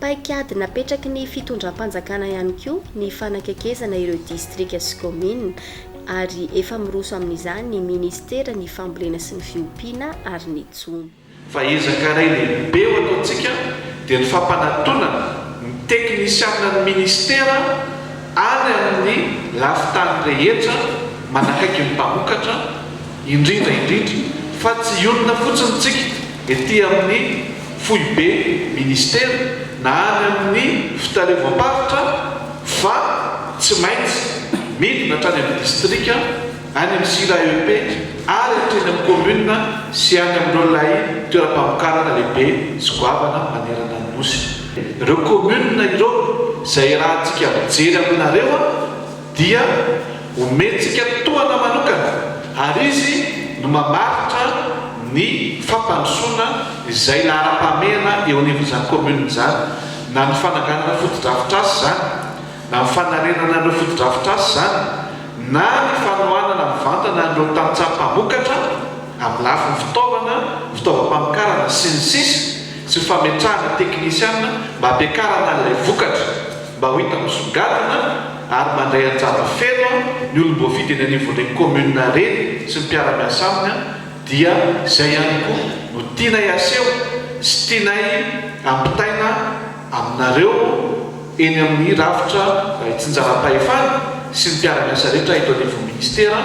Paikady napetraky ny fitondram-panjakana ihany koa ny fanakekezana ireo distrika sy kaominina ary efa miroso amin'izany ny minisiteran'ny Fambolena sy ny Fiompiana ary ny Jono. Fa ezaka iray lehibe ho ataontsika dia ny fampanatonana ny teknisianan'ny Minisitera any amin'ny lafin-tany rehetra manakaiky ny mpamokatra, indrindra indrindra fa tsy hionona fotsiny isika ety amin'ny Foibe Minisitera na any amin'ny Fitaleovam-paritra fa tsy maintsy midina hatrany amin'ny Distrika. any amin'ny sila EEP ary hatreny amin'ny kaominina sy any amin'ireo lay toeram-pamokarana lehibe sy goavana manerana ny Nosy. Ireo kaominina ireo izay iarahantsika mijery aminareo dia omentsika tohana manokana ary izy no mamaritra ny fampandrosoana izay laharam-pahamehana eo anivon'izany kaominina izany na ny fananganana fotodrafitrasa izany Na ny fanarenana ireo fotodrafitrasa izany na ny fanohanana mivantana an'ireo tantsaha mpamokatra amin'ny lafiny fitaovana, fitaovam-pamokarana, sy ny sisa sy fametrahana teknisiana mba hampiakarana an'ilay vokatra mba ho hita misongadina ary mandray anjara feno ny olom-boafidy eny anivon'ireny commune ireny sy ny mpiara-miasa aminy dia izay ihany koa no tianay haseho sy tianay hampitaina aminareo eny amin'ny rafitra itsinjaram-pahefana sy ny mpiara-miasa rehetra eto anivon'ny Ministera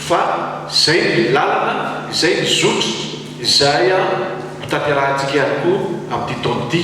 fa izay ny lalana, izay ny zotra izay hotanterahantsika ihany koa amin'ity taona ity.